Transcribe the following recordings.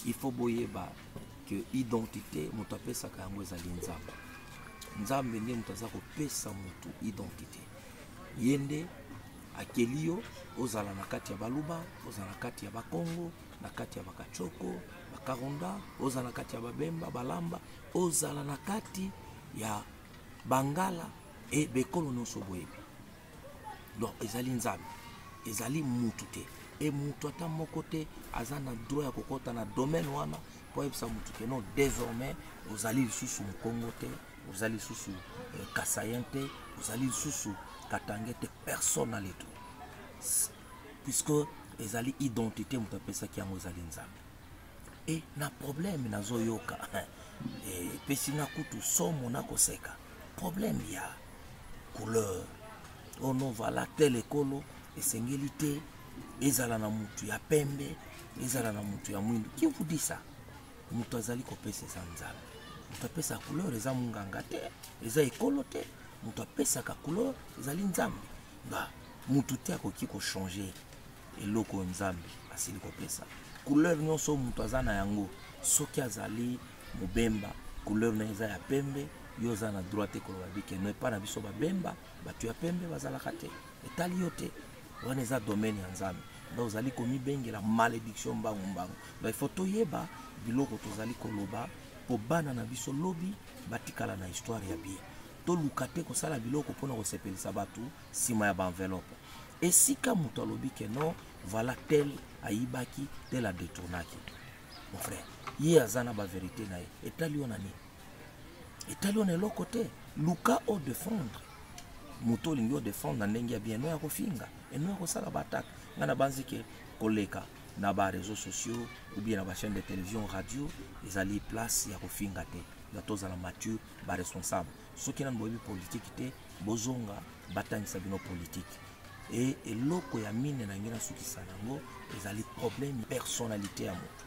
il faut boyeba que identité moto apesaka yango ezali nzambe nzambe nde moto aza kopesa motu identité ye nde akeli yo ozala na kati ya baluba ozala na kati ya bakongo na kati ya bakachoko bakaronda ozala na kati ya babemba balamba ozala na kati ya bangala e bekolo nyonso boyebi donc ezali nzambe ezali mutu te e mutu ata moko te aza na droit ya kokɔta na domaine wana mpo ayebisa mutu ke non désormais ozali lisusu mokongo te ozali lisusu euh, kasayen te ozali lisusu katange te personne na leto puisque ezali identité moto apesaki yango ezali nzambe e na problème nazoyoka epesi nga kutu somo na koseka problème ya couleur oh non voilà tel ekolo esengeli te ezala na motu ya pembe ezala na motu ya mwindo qui vous dit ça moto azali kopesa eza nzambe moto apesa couleur eza monganga te eza ekolo te moto apesaka couleur ezali nzambe ba motu te akoki kochange eloko oyo nzambe asili kopesa couleur nyonso moto aza na yango soki azali mobemba couleur na eza ya pembe yo oza na droit te koloba bike no epai na biso babemba bato ya pembe bazalaka te etali yo te wana eza domaine ya nzambe nda ozali komibengela malediction mbangu mbangu donc ifo toyeba biloko tozali koloba mpo bana na biso lobi batikala na histoire ya bien toluka te kosala biloko mpona kosepelisa bato sima ya ba enveloppe esika moto alobi ke non voilà tel ayibaki tel adetournaki mon frère ye aza na baverité na ye etali yo na nini etali yo na eloko te luka odefendre moto olingi odefendre na ndenge ya bien no ya kofinga eno ya kosala baatake ngai nabanzi ke koleka na bareseau sociaux ou bien na bachaîne de télévision radio ezali place ya kofinga te ya tozala mature baresponsable soki nanu boyebi politiki te bozonga batangisa bino politiki e eloko ya mine na ngai nasukisa nango ezali problème personnalité ya moto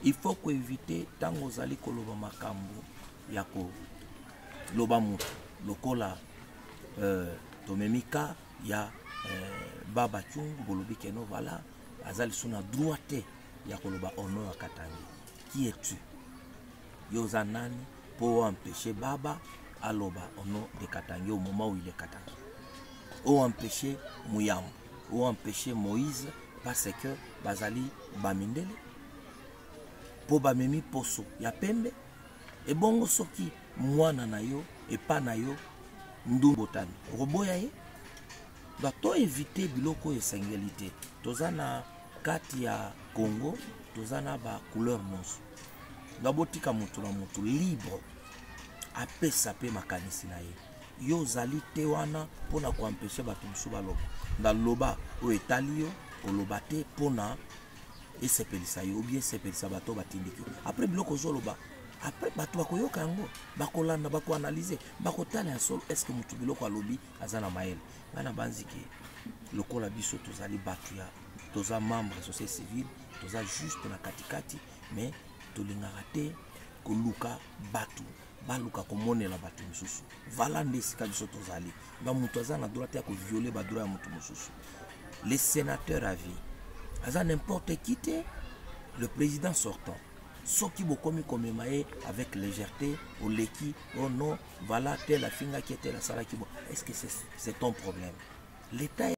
il faut koevite ntango ozali koloba makambo ya koloba moto lokola euh, tomemi ka ya euh, baba cungu bolobi keno vala aza lisu na droit te ya koloba ono ya katangi qui es-tu Yo oza nani po o empêcher Baba aloba au nom de Katangi au moment où il est Katangi. O empêcher Muyambo, o empêcher Moïse parce que bazali bamindele po bamemi poso ya pembe ebongo soki mwana na yo epa na yo ndumbu otani okoboya ye donc to éviter biloko oyo esengeli te toza na kati ya congo toza na ba couleur nyonso donc botika motu na motu libre apesa mpe makanisi na ye yo ozali te wana mpo na koampeshe bato mosusu baloba ndaloba oyo etali yo koloba te mpo na esepelisa yo obie esepelisa bato batindiki apres biloko ozoloba apres bato bakoyoka yango bakolanda bakoanalyse bakotala ya solo estce motu biloko alobi aza na mayele ngai nabanziki lokola biso tozali bato ya toza membre ya société civile toza juste na katikati mais tolingaka te koluka bato baluka komonela bato mosusu vala nde esika biso tozali na moto aza na droit te ya koviole badroit ya moto mosusu le sénateur à vie aza n'importe qui te le président sortant soki bokomi komema ye avec légèreté oleki oh non vala tel afingaki tel asalaki bo est ce que c'est ton problème l'état